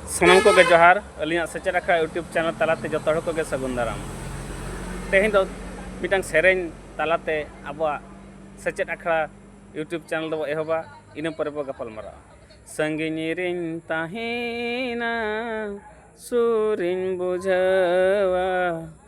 ᱥᱟᱱᱟᱢ ᱠᱚᱜᱮ ᱡᱚᱦᱟᱨ ᱟᱹᱞᱤᱧᱟᱜ ᱥᱮᱪᱮᱫ ᱟᱠᱷᱲᱟ ᱤᱭᱩᱴᱩᱵᱽ ᱪᱮᱱᱮᱞ ᱛᱟᱞᱟᱛᱮ ᱡᱚᱛᱚ ᱦᱚᱲ ᱠᱚᱜᱮ ᱥᱟᱹᱜᱩᱱ ᱫᱟᱨᱟᱢ ᱛᱮᱦᱮᱧ ᱫᱚ ᱢᱤᱫᱴᱟᱝ ᱥᱮᱨᱮᱧ ᱛᱟᱞᱟᱛᱮ ᱟᱵᱚᱣᱟᱜ ᱥᱮᱪᱮᱫ ᱟᱠᱷᱲᱟ ᱤᱭᱩᱴᱩᱵᱽ ᱪᱮᱱᱮᱞ ᱫᱚᱵᱚ ᱮᱦᱚᱵᱟ ᱤᱱᱟᱹ ᱯᱚᱨᱮ ᱵᱚ ᱜᱟᱯᱟᱞ ᱢᱟᱨᱟᱜᱼᱟ ᱥᱟᱺᱜᱤᱧ ᱨᱤᱧ ᱛᱟᱦᱮᱱᱟ ᱥᱩᱨᱤᱧ ᱵᱩᱡᱷᱟᱹᱣᱟ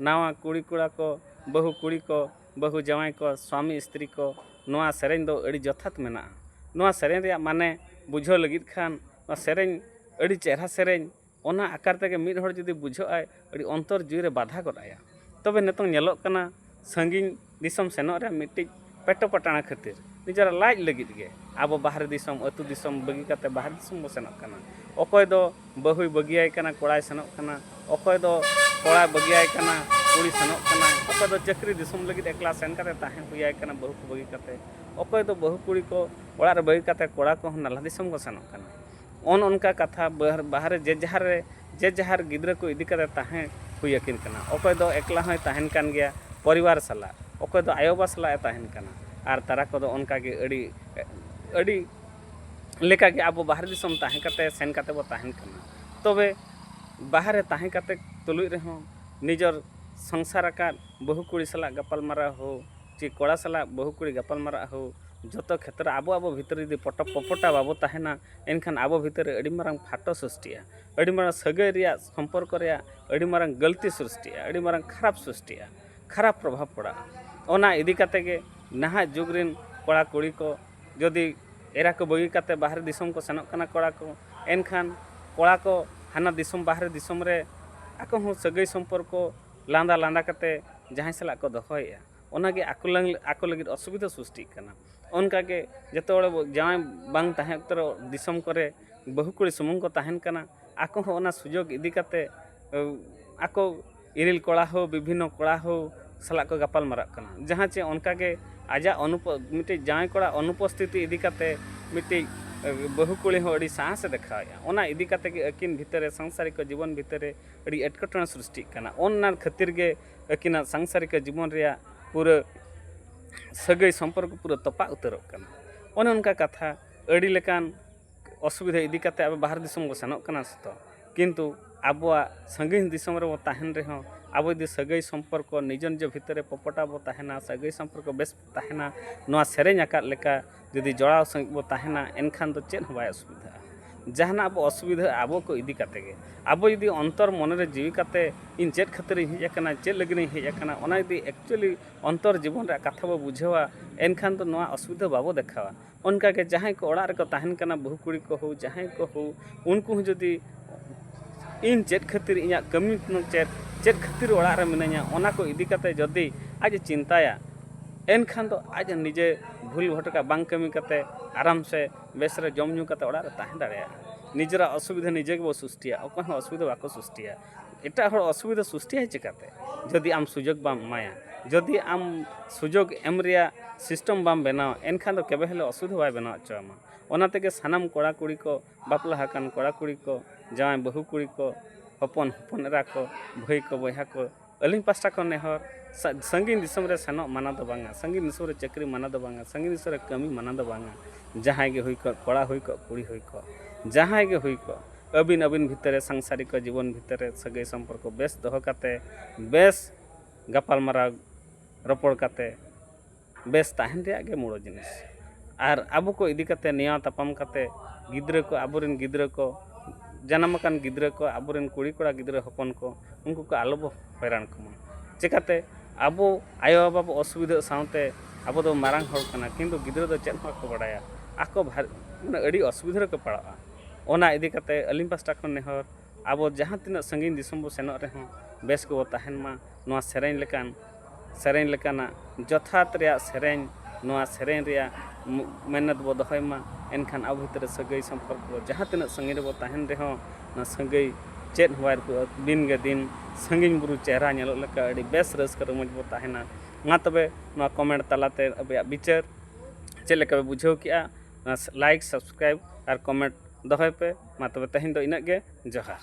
ᱱᱟᱣᱟ ᱠᱩᱲᱤ ᱠᱚᱲᱟ ᱠᱚ ᱵᱟᱹᱦᱩ ᱠᱩᱲᱤ ᱠᱚ ᱵᱟᱹᱦᱩ ᱡᱟᱶᱟᱭ ᱠᱚ ᱥᱟᱢᱤ ᱤᱥᱛᱨᱤ ᱠᱚ ᱱᱚᱣᱟ ᱥᱮᱨᱮᱧ ᱫᱚ ᱟᱹᱰᱤ ᱡᱚᱛᱷᱟᱛ ᱢᱮᱱᱟᱜᱼᱟ ᱱᱚᱣᱟ ᱥᱮᱨᱮᱧ ᱨᱮᱭᱟᱜ ᱢᱟᱱᱮ ᱵᱩᱡᱷᱟᱹᱣ ᱞᱟᱹᱜᱤᱫ ᱠᱷᱟᱱ ᱱᱚᱣᱟ ᱥᱮᱨᱮᱧ ᱟᱹᱰᱤ ᱪᱮᱦᱨᱟ ᱥᱮᱨᱮᱧ ᱚᱱᱟ ᱟᱠᱟᱨ ᱛᱮᱜᱮ ᱢᱤᱫ ᱦᱚᱲ ᱡᱩᱫᱤ ᱵᱩᱡᱷᱟᱹᱜ ᱟᱭ ᱟᱹᱰᱤ ᱚᱱᱛᱚᱨ ᱡᱤᱣᱤ ᱨᱮ ᱵᱟᱫᱷᱟ ᱜᱚᱫ ᱟᱭᱟ ᱛᱚᱵᱮ ᱱᱤᱛᱚᱝ ᱧᱮᱞᱚᱜ ᱠᱟᱱᱟ ᱥᱟᱺᱜᱤᱧ ᱫᱤᱥᱚᱢ ᱥᱮᱱᱚᱜ ᱨᱮ ᱢᱤᱫᱴᱤᱡ ᱯᱮᱴᱚ ᱯᱟᱴᱟᱬᱟ ᱠᱷᱟᱹᱛᱤᱨ ᱱᱤᱡᱮᱨᱟᱜ ᱞᱟᱡ ᱞᱟᱹᱜᱤᱫ ᱜᱮ ᱟᱵᱚ ᱵᱟᱦᱨᱮ ᱫᱤᱥᱚᱢ ᱟᱛᱳ ᱫᱤᱥᱚᱢ ᱵᱟᱹᱜᱤ ᱠᱟᱛᱮ ᱵᱟᱦᱨᱮ ᱫᱤᱥᱚᱢ ᱵᱚ ᱥᱮᱱᱚᱜ ᱠᱟᱱᱟ ᱚᱠᱚᱭ ᱫᱚ ᱵᱟᱹᱦᱩᱭ ᱵᱟᱹᱜᱤᱭᱟᱭ ᱠᱟᱱᱟ ᱠᱚᱲᱟᱭ ᱥᱮᱱᱚᱜ ᱠᱟᱱᱟ ᱚᱠᱚᱭ ᱫᱚ ᱠᱚᱲᱟᱭ ᱵᱟᱹᱜᱤᱭᱟᱭ ᱠᱟᱱᱟ ᱠᱩᱲᱤ ᱥᱮᱱᱚᱜ ᱠᱟᱱᱟ ᱚᱠᱚᱭ ᱫᱚ ᱪᱟᱹᱠᱨᱤ ᱫᱤᱥᱚᱢ ᱞᱟᱹᱜᱤᱫ ᱮᱠᱞᱟ ᱥᱮᱱ ᱠᱟᱛᱮ ᱛᱟᱦᱮᱸ ᱦᱩᱭᱟᱭ ᱠᱟᱱᱟ ᱵᱟᱹᱦᱩ ᱠᱚ ᱵᱟᱹᱜᱤ ᱠᱟᱛᱮ ᱚᱠᱚᱭ ᱫᱚ ᱵᱟᱹᱦᱩ ᱠᱩᱲᱤ ᱠᱚ ᱚᱲᱟᱜ ᱨᱮ ᱵᱟᱹᱜᱤ ᱠᱟᱛᱮ ᱠᱚᱲᱟ ᱠᱚᱦᱚᱸ ᱱᱟᱞᱦᱟ ᱫᱤᱥᱚᱢ ᱠᱚ ᱥᱮᱱᱚᱜ ᱠᱟᱱᱟ ᱚᱱ ᱚᱱᱠᱟ ᱠᱟᱛᱷᱟ ᱵᱟᱦᱨᱮ ᱡᱮ ᱡᱟᱦᱟᱨ ᱨᱮ ᱡᱮ ᱡᱟᱦᱟᱨ ᱜᱤᱫᱽᱨᱟᱹ ᱠᱚ ᱤᱫᱤ ᱠᱟᱛᱮᱫ ᱛᱟᱦᱮᱸ ᱦᱩᱭ ᱟᱹᱠᱤᱱ ᱠᱟᱱᱟ ᱚᱠᱚᱭ ᱫᱚ ᱮᱠᱞᱟ ᱦᱚᱸᱭ ᱛᱟᱦᱮᱱ ᱠᱟᱱ ᱜᱮᱭᱟ ᱯᱚᱨᱤᱵᱟᱨ ᱥᱟᱞᱟᱜ ᱚᱠᱚᱭ ᱫᱚ ᱟᱭᱳ ᱵᱟᱵᱟ ᱥᱟᱞᱟᱜ ᱮ ᱛᱟᱦᱮᱱ ᱠᱟᱱᱟ ᱟᱨ ᱛᱟᱨᱟ ᱠᱚᱫᱚ ᱚᱱᱠᱟ ᱜᱮ ᱟᱹᱰᱤ ᱟᱹᱰᱤ ᱞᱮᱠᱟ ᱜᱮ ᱟᱵᱚ ᱵᱟᱦᱨᱮ ᱫᱤᱥᱚᱢ ᱛᱟᱦᱮᱸ ᱠᱟᱛᱮᱫ ᱥᱮᱱ ᱠᱟᱛᱮᱫ ᱵᱚᱱ ᱛᱟᱦᱮᱱ ᱠᱟᱱᱟ ᱛᱚᱵᱮ ᱵᱟᱦᱨᱮ ᱛᱟᱦᱮᱸ ᱠᱟᱛᱮᱫ ᱛᱩᱞᱩᱡ ᱨᱮᱦᱚᱸ ᱱᱤᱡᱚᱨ ᱥᱚᱝᱥᱟᱨ ᱟᱠᱟᱫ ᱵᱟᱹᱦᱩ ᱠᱩᱲᱤ ᱥᱟᱞᱟᱜ ᱜᱟᱯᱟᱞ ᱢᱟᱨᱟᱣ ᱦᱳᱠ ᱪᱮ ᱠᱚᱲᱟ ᱥᱟᱞᱟᱜ ᱵᱟᱹᱦᱩ ᱠᱩᱲᱤ ᱜᱟᱯᱟᱞ ᱢᱟᱨᱟᱜ ᱦᱳᱠ ᱡᱚᱛᱚ ᱠᱷᱮᱛᱨᱮ ᱟᱵᱚ ᱟᱵᱚ ᱵᱷᱤᱛᱨᱤ ᱡᱩᱫᱤ ᱯᱚᱴᱚ ᱯᱚᱯᱚᱴᱟ ᱵᱟᱵᱚ ᱛᱟᱦᱮᱱᱟ ᱮᱱᱠᱷᱟᱱ ᱟᱵᱚ ᱵᱷᱤᱛᱨᱤ ᱨᱮ ᱟᱹᱰᱤ ᱢᱟᱨᱟᱝ ᱯᱷᱟᱴᱚ ᱥᱨᱤᱥᱴᱤᱜᱼᱟ ᱟᱹᱰᱤ ᱢᱟᱨᱟᱝ ᱥᱟᱹᱜᱟᱹᱭ ᱨᱮᱭᱟᱜ ᱥᱚᱢᱯᱚᱨᱠᱚ ᱨᱮᱭᱟᱜ ᱟᱹᱰᱤ ᱢᱟᱨᱟᱝ ᱜᱟᱹᱞᱛᱤ ᱥᱨᱤᱥᱴᱤᱜᱼᱟ ᱟᱹᱰᱤ ᱢᱟᱨᱟᱝ ᱠᱷᱟᱨᱟᱯ ᱥᱨᱤᱥᱴᱤᱜᱼᱟ ᱠᱷᱟᱨᱟᱯ ᱯᱨᱚᱵᱷᱟᱵᱽ ᱯᱟᱲᱟᱜᱼᱟ ᱚᱱᱟ ᱤᱫᱤ ᱠᱟᱛᱮᱫ ᱜᱮ ᱱᱟᱦᱟᱜ ᱡᱩᱜᱽ ᱨᱮᱱ ᱠᱚᱲᱟ ᱠᱩᱲᱤ ᱠᱚ ᱡᱩᱫᱤ ᱮᱨᱟ ᱠᱚ ᱵᱟᱹᱜᱤ ᱠᱟᱛᱮᱫ ᱵᱟᱦᱨᱮ ᱫᱤᱥᱚᱢ ᱠᱚ ᱥᱮᱱᱚᱜ ᱠᱟᱱᱟ ᱠᱚᱲᱟ ᱠᱚ ᱮᱱᱠᱷᱟᱱ ᱠᱚᱲᱟ ᱠᱚ ᱦᱟᱱᱟ ᱫᱤᱥᱚᱢ ᱵᱟᱦᱨᱮ ᱫᱤᱥᱚᱢ ᱨᱮ ᱟᱠᱚ ᱦᱚᱸ ᱥᱟᱹᱜᱟᱹᱭ ᱥᱚᱢᱯᱚᱨᱠᱚ ᱞᱟᱸᱫᱟ ᱞᱟᱸᱫᱟ ᱠᱟᱛᱮᱫ ᱡᱟᱦᱟᱸᱭ ᱥᱟᱞᱟᱜ ᱠᱚ ᱫᱚᱦᱚᱭᱮᱜᱼᱟ ᱚᱱᱟᱜᱮ ᱟᱠᱚ ᱞᱟᱹᱜᱤᱫ ᱚᱥᱩᱵᱤᱫᱷᱟ ᱥᱨᱤᱥᱴᱤᱜ ᱠᱟᱱᱟ ᱚᱱᱠᱟ ᱜᱮ ᱡᱚᱛᱚ ᱦᱚᱲ ᱵᱚᱱ ᱡᱟᱶᱟᱭ ᱵᱟᱝ ᱛᱟᱦᱮᱸ ᱚᱠᱛᱚ ᱨᱮ ᱫᱤᱥᱚᱢ ᱠᱚᱨᱮ ᱵᱟᱹᱦᱩ ᱠᱩᱲᱤ ᱥᱩᱢᱩᱝ ᱠᱚ ᱛᱟᱦᱮᱱ ᱠᱟᱱᱟ ᱟᱠᱚ ᱦᱚᱸ ᱚᱱᱟ ᱥᱩᱡᱳᱜᱽ ᱤᱫᱤ ᱠᱟᱛᱮᱫ ᱟᱠᱚ ᱤᱨᱤᱞ ᱠᱚᱲᱟ ᱦᱳ ᱵᱤᱵᱷᱤᱱᱱᱚ ᱠᱚᱲᱟ ᱦᱳ ᱥᱟᱞᱟᱜ ᱠᱚ ᱜᱟᱯᱟᱞ ᱢᱟᱨᱟᱜ ᱠᱟᱱᱟ ᱡᱟᱦᱟᱸ ᱪᱮ ᱚᱱᱠᱟ ᱜᱮ ᱟᱡᱟᱜ ᱢᱤᱫᱴᱤᱡ ᱡᱟᱶᱟᱭ ᱠᱚᱲᱟ ᱚᱱᱩᱯᱚᱥᱛᱷᱤᱛᱤ ᱤᱫᱤ ᱠᱟᱛᱮᱫ ᱢᱤᱫᱴᱤᱡ ᱵᱟᱹᱦᱩ ᱠᱩᱲᱤ ᱦᱚᱸ ᱟᱹᱰᱤ ᱥᱟᱦᱚᱥ ᱮ ᱫᱮᱠᱷᱟᱣᱮᱜᱼᱟ ᱚᱱᱟ ᱤᱫᱤ ᱠᱟᱛᱮᱫ ᱜᱮ ᱟᱹᱠᱤᱱ ᱵᱷᱤᱛᱟᱹᱨ ᱨᱮ ᱥᱚᱝᱥᱟᱨᱤᱠ ᱡᱤᱵᱚᱱ ᱵᱷᱤᱛᱟᱹᱨ ᱨᱮ ᱟᱹᱰᱤ ᱮᱴᱠᱮᱴᱚᱬᱮ ᱥᱨᱤᱥᱴᱤᱜ ᱠᱟᱱᱟ ᱚᱱᱟ ᱠᱷᱟᱹᱛᱤᱨ ᱜᱮ ᱟᱹᱠᱤᱱᱟᱜ ᱥᱟᱝᱥᱟᱨᱤᱠᱟ ᱡᱤᱵᱚᱱ ᱨᱮᱭᱟᱜ ᱯᱩᱨᱟᱹ ᱥᱟᱹᱜᱟᱹᱭ ᱥᱚᱢᱯᱚᱨᱠᱚ ᱯᱩᱨᱟᱹ ᱛᱚᱯᱟᱜ ᱩᱛᱟᱹᱨᱚᱜ ᱠᱟᱱᱟ ᱚᱱᱮ ᱚᱱᱠᱟ ᱠᱟᱛᱷᱟ ᱟᱹᱰᱤ ᱞᱮᱠᱟᱱ ᱚᱥᱩᱵᱤᱫᱷᱟ ᱤᱫᱤ ᱠᱟᱛᱮᱫ ᱟᱵᱚ ᱵᱟᱦᱨᱮ ᱫᱤᱥᱚᱢ ᱵᱚᱱ ᱥᱮᱱᱚᱜ ᱠᱟᱱᱟ ᱥᱮᱛᱚ ᱠᱤᱱᱛᱩ ᱟᱵᱚᱣᱟᱜ ᱥᱟᱺᱜᱤᱧ ᱫᱤᱥᱚᱢ ᱨᱮᱵᱚᱱ ᱛᱟᱦᱮᱱ ᱨᱮᱦᱚᱸ ᱟᱵᱚ ᱡᱩᱫᱤ ᱥᱟᱹᱜᱟᱹᱭ ᱥᱚᱢᱯᱚᱨᱠᱚ ᱱᱤᱡᱚ ᱱᱤᱡᱚ ᱵᱷᱤᱛᱤᱨ ᱨᱮ ᱯᱚᱯᱚᱴᱟᱜ ᱵᱚᱱ ᱛᱟᱦᱮᱱᱟ ᱥᱟᱹᱜᱟᱹᱭ ᱥᱚᱢᱯᱚᱨᱠᱚ ᱵᱮᱥ ᱛᱟᱦᱮᱱᱟ ᱱᱚᱣᱟ ᱥᱮᱨᱮᱧ ᱟᱠᱟᱫ ᱞᱮᱠᱟ ᱡᱩᱫᱤ ᱡᱚᱲᱟᱣ ᱥᱟᱺᱦᱤᱡ ᱵᱚᱱ ᱛᱟᱦᱮᱱᱟ ᱮᱱᱠᱷᱟᱱ ᱫᱚ ᱪᱮᱫ ᱦᱚᱸ ᱵᱟᱭ ᱚᱥᱩᱵᱤᱫᱷᱟᱜᱼᱟ ᱡᱟᱦᱟᱱᱟᱜ ᱵᱚᱱ ᱚᱥᱩᱵᱤᱫᱷᱟᱜᱼᱟ ᱟᱵᱚ ᱠᱚ ᱤᱫᱤ ᱠᱟᱛᱮᱫ ᱜᱮ ᱟᱵᱚ ᱡᱩᱫᱤ ᱚᱱᱛᱚᱨ ᱢᱚᱱᱮ ᱨᱮ ᱡᱤᱣᱤ ᱠᱟᱛᱮᱫ ᱤᱧ ᱪᱮᱫ ᱠᱷᱟᱹᱛᱤᱨ ᱤᱧ ᱦᱮᱡ ᱟᱠᱟᱱᱟ ᱪᱮᱫ ᱞᱟᱹᱜᱤᱫ ᱤᱧ ᱦᱮᱡ ᱟᱠᱟᱱᱟ ᱚᱱᱟ ᱡᱩᱫᱤ ᱮᱠᱪᱩᱞᱞᱤ ᱚᱱᱛᱚᱨ ᱡᱤᱵᱚᱱ ᱨᱮᱭᱟᱜ ᱠᱟᱛᱷᱟ ᱵᱚᱱ ᱵᱩᱡᱷᱟᱹᱣᱟ ᱮᱱᱠᱷᱟᱱ ᱫᱚ ᱱᱚᱣᱟ ᱚᱥᱩᱵᱤᱫᱷᱟ ᱵᱟᱵᱚᱱ ᱫᱮᱠᱷᱟᱣᱟ ᱚᱱᱠᱟ ᱜᱮ ᱡᱟᱦᱟᱸᱭ ᱠᱚ ᱚᱲᱟᱜ ᱨᱮᱠᱚ ᱛᱟᱦᱮᱱ ᱠᱟᱱᱟ ᱵᱟᱹᱦᱩ ᱠᱩᱲᱤ ᱠᱚ ᱦᱳᱠ ᱡᱟᱦᱟᱸᱭ ᱠᱚ ᱦᱳᱠ ᱩᱱᱠᱩ ᱦᱚᱸ ᱡᱩᱫᱤ ᱤᱧ ᱪᱮᱫ ᱠᱷᱟᱹᱛᱤᱨ ᱤᱧᱟᱹᱜ ᱠᱟᱹᱢᱤ ᱪᱮᱫ ᱪᱮᱫ ᱠᱷᱟᱹᱛᱤᱨ ᱚᱲᱟᱜ ᱨᱮ ᱢᱤᱱᱟᱹᱧᱟ ᱚᱱᱟ ᱠᱚ ᱤᱫᱤ ᱠᱟᱛᱮ ᱡᱩᱫᱤ ᱟᱡ ᱮ ᱪᱤᱱᱛᱟᱹᱭᱟ ᱮᱱᱠᱷᱟᱱ ᱫᱚ ᱟᱡ ᱱᱤᱡᱮ ᱵᱷᱩᱞ ᱵᱷᱚᱴᱠᱟ ᱵᱟᱝ ᱠᱟᱹᱢᱤ ᱠᱟᱛᱮ ᱟᱨᱟᱢ ᱥᱮ ᱵᱮᱥ ᱨᱮ ᱡᱚᱢ ᱧᱩ ᱠᱟᱛᱮ ᱚᱲᱟᱜ ᱨᱮ ᱛᱟᱦᱮᱸ ᱫᱟᱲᱮᱭᱟᱜᱼᱟ ᱱᱤᱡᱮᱨᱟᱜ ᱚᱥᱩᱵᱤᱫᱷᱟ ᱱᱤᱡᱮ ᱜᱮᱵᱚᱱ ᱥᱨᱤᱥᱴᱤᱭᱟ ᱚᱠᱚᱭ ᱦᱚᱸ ᱚᱥᱩᱵᱤᱫᱷᱟ ᱵᱟᱠᱚ ᱥᱨᱤᱥᱴᱤᱭᱟ ᱮᱴᱟᱜ ᱦᱚᱲ ᱚᱥᱩᱵᱤᱫᱷᱟ ᱥᱨᱤᱥᱴᱤᱜᱼᱟ ᱪᱤᱠᱟᱹᱛᱮ ᱡᱩᱫᱤ ᱟᱢ ᱥᱩᱡᱳᱜᱽ ᱵᱟᱢ ᱮᱢᱟᱭᱟ ᱡᱩᱫᱤ ᱟᱢ ᱥᱩᱡᱳᱜᱽ ᱮᱢ ᱨᱮᱭᱟᱜ ᱥᱤᱥᱴᱮᱢ ᱵᱟᱢ ᱵᱮᱱᱟᱣᱟ ᱮᱱᱠᱷᱟᱱ ᱫᱚ ᱠᱮᱵᱮ ᱦᱤᱞᱳᱜ ᱚᱥᱩᱵᱤᱫᱷᱟ ᱵᱟᱭ ᱵᱮᱱᱟᱣ ᱦᱚᱪᱚ ᱟᱢᱟ ᱚᱱᱟ ᱛᱮᱜᱮ ᱥᱟᱱᱟᱢ ᱠᱚᱲᱟ ᱠᱩᱲᱤ ᱠᱚ ᱵᱟᱯᱞᱟ ᱟᱠᱟᱱ ᱠᱚᱲᱟ ᱠᱩᱲᱤ ᱠᱚ ᱡᱟᱶᱟᱭ ᱵᱟᱹᱦᱩ ᱠᱩᱲᱤ ᱠᱚ ᱦᱚᱯᱚᱱ ᱦᱚᱯᱚᱱ ᱮᱨᱟ ᱠᱚ ᱵᱷᱟᱹᱭ ᱠᱚ ᱵᱚᱭᱦᱟ ᱠᱚ ᱟᱹᱞᱤᱧ ᱯᱟᱥᱴᱟ ᱠᱷᱚᱱ ᱱᱮᱦᱚᱨ ᱥᱟᱺᱜᱤᱧ ᱫᱤᱥᱚᱢ ᱨᱮ ᱥᱮᱱᱚᱜ ᱢᱟᱱᱟ ᱫᱚ ᱵᱟᱝᱟ ᱥᱟᱺᱜᱤᱧ ᱫᱤᱥᱚᱢ ᱨᱮ ᱪᱟᱹᱠᱨᱤ ᱢᱟᱱᱟ ᱫᱚ ᱵᱟᱝᱟ ᱥᱟᱺᱜᱤᱧ ᱫᱤᱥᱚᱢ ᱨᱮ ᱠᱟᱹᱢᱤ ᱢᱟᱱᱟ ᱫᱚ ᱵᱟᱝᱟ ᱡᱟᱦᱟᱸᱭ ᱜᱮ ᱦᱩᱭ ᱠᱚᱜ ᱠᱚᱲᱟ ᱦᱩᱭ ᱠᱚᱜ ᱠᱩᱲᱤ ᱦᱩᱭ ᱠᱚᱜ ᱡᱟᱦᱟᱸᱭ ᱜᱮ ᱦᱩᱭ ᱠᱚᱜ ᱟᱹᱵᱤᱱ ᱟᱹᱵᱤᱱ ᱵᱷᱤᱛᱟᱹᱨ ᱨᱮ ᱥᱟᱝᱥᱟᱨᱤᱠᱚ ᱡᱤᱵᱚᱱ ᱵᱷᱤᱛᱟᱹᱨ ᱨᱮ ᱥᱟᱹᱜᱟᱹᱭ ᱥᱚᱢᱯᱚᱨᱠᱚ ᱵᱮᱥ ᱫᱚᱦᱚ ᱠᱟᱛᱮᱫ ᱵᱮᱥ ᱜᱟᱯᱟᱞ ᱢᱟᱨᱟᱣ ᱨᱚᱯᱚᱲ ᱠᱟᱛᱮᱫ ᱵᱮᱥ ᱛᱟᱦᱮᱱ ᱨᱮᱭᱟᱜ ᱜᱮ ᱢᱩᱬ ᱡᱤᱱᱤᱥ ᱟᱨ ᱟᱵᱚ ᱠᱚ ᱤᱫᱤ ᱠᱟᱛᱮᱫ ᱱᱮᱭᱟᱣ ᱛᱟᱯᱟᱢ ᱠᱟᱛᱮᱫ ᱜᱤᱫᱽᱨᱟᱹ ᱠᱚ ᱟᱵᱚ ᱨᱮᱱ ᱜᱤᱫᱽᱨᱟᱹ ᱠᱚ ᱡᱟᱱᱟᱢ ᱟᱠᱟᱱ ᱜᱤᱫᱽᱨᱟᱹ ᱠᱚ ᱟᱵᱚ ᱨᱮᱱ ᱠᱩᱲᱤ ᱠᱚᱲᱟ ᱜᱤᱫᱽᱨᱟᱹ ᱦᱚᱯᱚᱱ ᱠᱚ ᱩᱱᱠᱩ ᱠᱚ ᱟᱞᱚ ᱵᱚ ᱦᱚᱭᱨᱟᱱ ᱠᱚᱢᱟ ᱪᱤᱠᱟᱹᱛᱮ ᱟᱵᱚ ᱟᱭᱳ ᱵᱟᱵᱟ ᱵᱚ ᱚᱥᱩᱵᱤᱫᱷᱟᱜ ᱥᱟᱶᱛᱮ ᱟᱵᱚ ᱫᱚ ᱢᱟᱨᱟᱝ ᱦᱚᱲ ᱠᱟᱱᱟ ᱠᱤᱱᱛᱩ ᱜᱤᱫᱽᱨᱟᱹ ᱫᱚ ᱪᱮᱫ ᱦᱚᱸ ᱵᱟᱠᱚ ᱵᱟᱲᱟᱭᱟ ᱟᱠᱚ ᱢᱟᱱᱮ ᱟᱹᱰᱤ ᱚᱥᱩᱵᱤᱫᱷᱟ ᱨᱮᱠᱚ ᱯᱟᱲᱟᱜᱼᱟ ᱚᱱᱟ ᱤᱫᱤ ᱠᱟᱛᱮᱫ ᱟᱹᱞᱤᱧ ᱯᱟᱥᱴᱟ ᱠᱷᱚᱱ ᱱᱮᱦᱚᱨ ᱟᱵᱚ ᱡᱟᱦᱟᱸ ᱛᱤᱱᱟᱹᱜ ᱥᱟᱺᱜᱤᱧ ᱫᱤᱥᱚᱢ ᱵᱚᱱ ᱥᱮᱱᱚᱜ ᱨᱮᱦᱚᱸ ᱵᱮᱥ ᱜᱮᱵᱚᱱ ᱛᱟᱦᱮᱱ ᱢᱟ ᱱᱚᱣᱟ ᱥᱮᱨᱮᱧ ᱞᱮᱠᱟᱱ ᱥᱮᱨᱮᱧ ᱞᱮᱠᱟᱱᱟᱜ ᱡᱚᱛᱷᱟᱛ ᱨᱮᱭᱟᱜ ᱥᱮᱨᱮᱧ ᱱᱚᱣᱟ ᱥᱮᱨᱮᱧ ᱨᱮᱭᱟᱜ ᱢᱮᱦᱱᱚᱛ ᱵᱚᱱ ᱫᱚᱦᱚᱭ ᱢᱟ ᱮᱱᱠᱷᱟᱱ ᱟᱵᱚ ᱵᱷᱤᱛᱨᱤ ᱨᱮ ᱥᱟᱹᱜᱟᱹᱭ ᱥᱚᱢᱯᱚᱨᱠᱚ ᱡᱟᱦᱟᱸ ᱛᱤᱱᱟᱹᱜ ᱥᱟᱺᱜᱤᱧ ᱨᱮᱵᱚᱱ ᱛᱟᱦᱮᱱ ᱨᱮᱦᱚᱸ ᱚᱱᱟ ᱥᱟᱹᱜᱟᱹᱭ ᱪᱮᱫ ᱦᱚᱸ ᱵᱟᱭ ᱨᱩᱯᱩᱜᱼᱟ ᱫᱤᱱ ᱜᱮ ᱫᱤᱱ ᱥᱟᱺᱜᱤᱧ ᱵᱩᱨᱩ ᱪᱮᱦᱨᱟ ᱧᱮᱞᱚᱜ ᱞᱮᱠᱟ ᱟᱹᱰᱤ ᱵᱮᱥ ᱨᱟᱹᱥᱠᱟᱹ ᱨᱚᱢᱚᱡᱽ ᱵᱚᱱ ᱛᱟᱦᱮᱱᱟ ᱢᱟ ᱛᱚᱵᱮ ᱱᱚᱣᱟ ᱠᱚᱢᱮᱱᱴ ᱛᱟᱞᱟᱛᱮ ᱟᱯᱮᱭᱟᱜ ᱵᱤᱪᱟᱹᱨ ᱪᱮᱫ ᱞᱮᱠᱟ ᱯᱮ ᱵᱩᱡᱷᱟᱹᱣ ᱠᱮᱜᱼᱟ ᱞᱟᱭᱤᱠ ᱥᱟᱵᱥᱠᱨᱟᱭᱤᱵᱽ ᱟᱨ ᱠᱚᱢᱮᱱᱴ ᱫᱚᱦᱚᱭ ᱯᱮ ᱢᱟ ᱛᱚᱵᱮ ᱛᱮᱦᱮᱧ ᱫᱚ ᱤᱱᱟᱹᱜ ᱜᱮ ᱡᱚᱦᱟᱨ